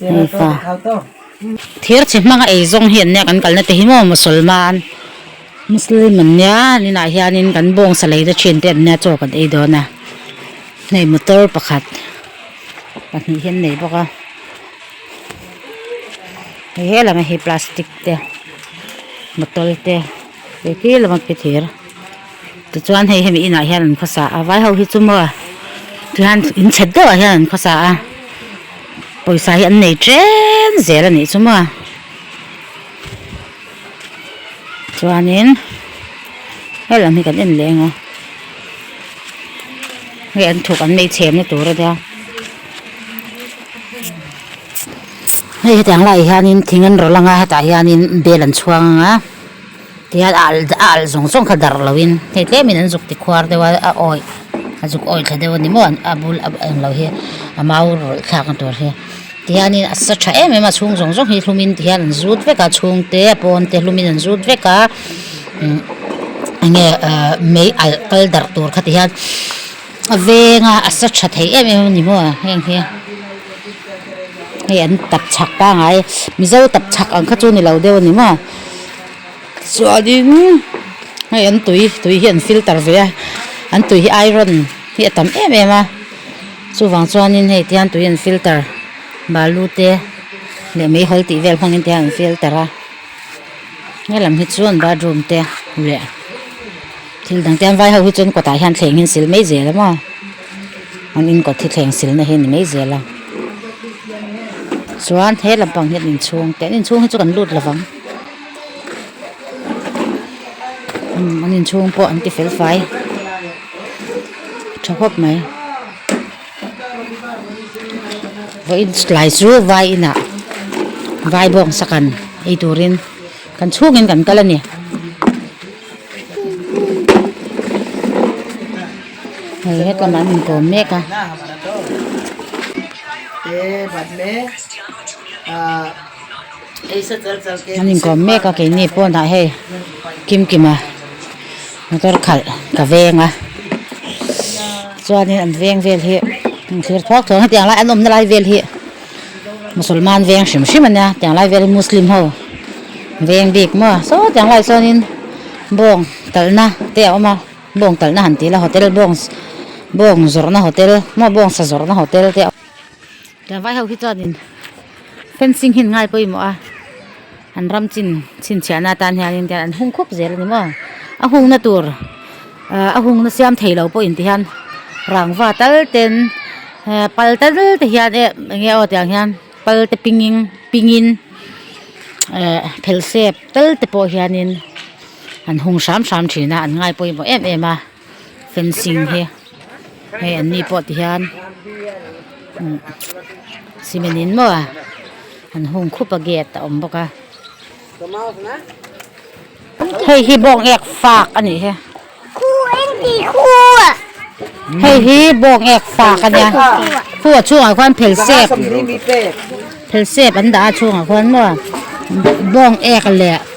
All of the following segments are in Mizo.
Mipa, Thir chi hmanga ei zawng hian nia kan kalna te hi maw? Musalman, Muslim an nia, ninah hianin kan bawng salei te thin te an nia chaw kan ei dawn a, hei motor pakhat pahnih hi an nei bawk a, hei helama hi plastic te bottle te, hei khi lamah khi thir. Tichuan hei hemi inah hian an khawsa a, vai ho hi chu maw tihian in chhet deuhah hian an khawsa a, pawisa hi an nei chen zel a nih chu maw. Chuanin he lam hi kan en leh anga, hei an thuk an mei chhemna tur a nia. Hei hetiang laiah hianin thing an rawn lang a, hetah hianin bel an chhuang anga. Tihian a al a al zawng zawng kha dar lo in hei tlem in an zuk ti khuar deuh a a awih a zuk awih thla deuh a ni maw a bul a eng loh hi a mau rawlh thlak na tur hi tihian in a sa tha em em a a chhung zawng zawng hi hlum in tihian an zut vek a chhung te a pawn te hlum in an zut vek a umm enge ahh mei alh kal darh tur kha tihian-- A veng a a sa tha thei em em a ni maw heng hi hei an tap chak pangai mizo tap chak ang kha chu ni lo deuh a ni maw chuanin hei an tui tui hi an filter ve a an tui hi iron hi a tam em em a chuvang chuanin hei tihian tui an filter balu te leh mai hawl tih vel hmangin tihian an filter a he lam hi chuan bathroom te leh-- Thil dang tian vai ho hi chuan kawtah hian thleng hi an sil mai zel a maw an in kawt hi thleng silna hi a ni mai zel a chuan he lampang hi an in chhung teh an in chhung hi chu kan lut lo vang umm an in chhung pawh an ti fel fai tha khawp mai vawiin tlai chu vai inah vai bawngsak an ei turin kan chhungin kan kal a ni. Hei hetlam an in tlawm mek a an in tlawm mek a keini pawnah hei kim kim a motor khalh ka veng a chuanin an veng vel hi an thlir thlawk thlawk hetiang lai an awmna lai vel hi-- Musulman veng hrim hrim ania tiang lai vel hi Muslim ho veng bik maw saw tiang lai chuanin bawng kalna te a awm a bawng kalna han tih la hotel bawng bawng zawrhna hotel maw bawng sa zawrhna hotel te a awm a tiang vai ho hi chuanin fencing hi an ngaipawimawh a. An ram chin chhinchhiahna atan hian in an hung khawp zel a ni maw? A hungna tur a hungna siam thei lo pawhin ti hian rangva tal ten pal tal te hian e eng nge aw tiang hian pal te pingin pingin eh phelsep tal te pawh hian in an hung hram hram thin a an ngaipawimawh em em a. fencing hi hei an ni pawh ti hian umm cement in maw a an hung khup a gate a awm bawk a hei hi bawng ek fak a nih hi hei hi bawng ek fak a nia khu a chhungah khuan phelsep phelsep an dah a a chhungah khuan maw bawng ek leh.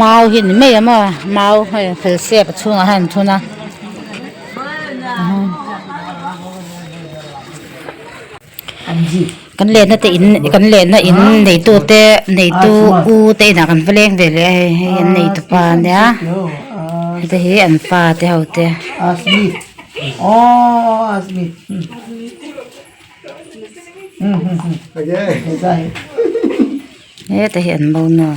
mau hi ni mai a maw mau hei felsiap a chhungah hian an thun a kan lehna te in kan lehna in neitu te neitu u te inah kan va leng ve leh a hei hei an neitu pa nia hete hi an pa te ho te aww . Heta hi an bono.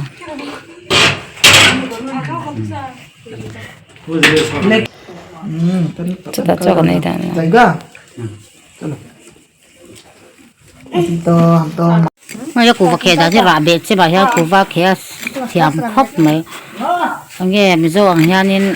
Chuta chuan kan ei dan lo. Hmeiah kuh vakhe dah chiah rah beh che mah hian kuh vakhe a thiam khawp mai. Enge Mizo ang hianin.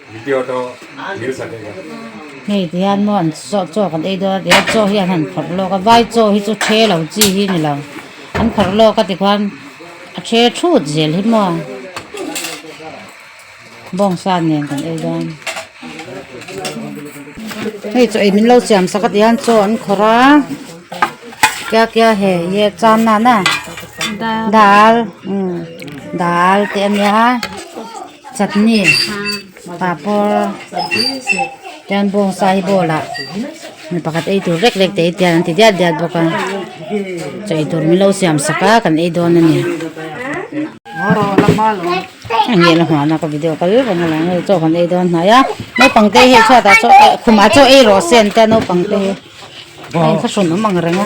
Hei ti hian maw an chaw chaw kan ei dawn a ti a chaw hian han phawrh lawk a vai chaw hi chu the lo chi hi a ni lo an phawrh lawk a ti khan a the thut zel hi maw bawng sa nen kan ei dawn hei chaw ei min lo siam sak atia hian chaw an khawrh a kya kya hai ye cham nan a dal umm dal te a nia. Chutney, papawr, chuan bawng sa hi bowl ah mi pakhat ei tur rek rek te hi tial an ti diat diat bawk a, chaw eitur min lo siam sak a kan ei dawn a ni. Heng hi a la nghah naka video kal vang a lang a, chaw kan ei dawn hnai a, naupang te hei chhuat ah chaw eh khum ah chaw ei rawh se an tia naupang te hi, a inkhawhhrun awm ang reng a.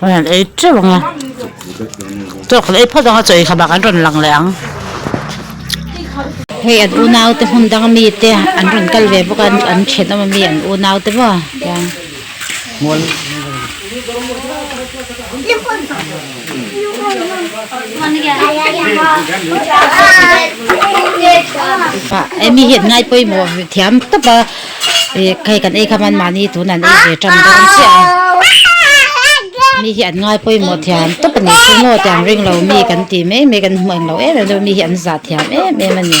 Rawn han ei teuh ang a, tawk kan ei phawt ang a, chaw inkham ah kan rawn lang leh ang. Hei an unaute hmun dang ami te an rawn kal ve bawk a, an thianawm ami an unaute maw tiang. Emi hian ngai pawimawh thiam tawp a, hei kan ei kha man mahni tun an ei ve tan dawn chiah a, mi hi an ngai pawimawh thiam tawp a ni, chu maw tiang ring lo mi kan ti mai mai kan hmu englo em em deuh, mi hi an zah thiam em em a ni.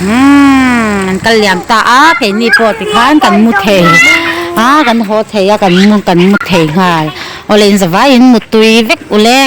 umm an kal liam ta a keini pawh ti khan kan hmu thei a kan haw thei a kan hmu kan hmu thei nghal awle in zavaiin mutui vek uleh.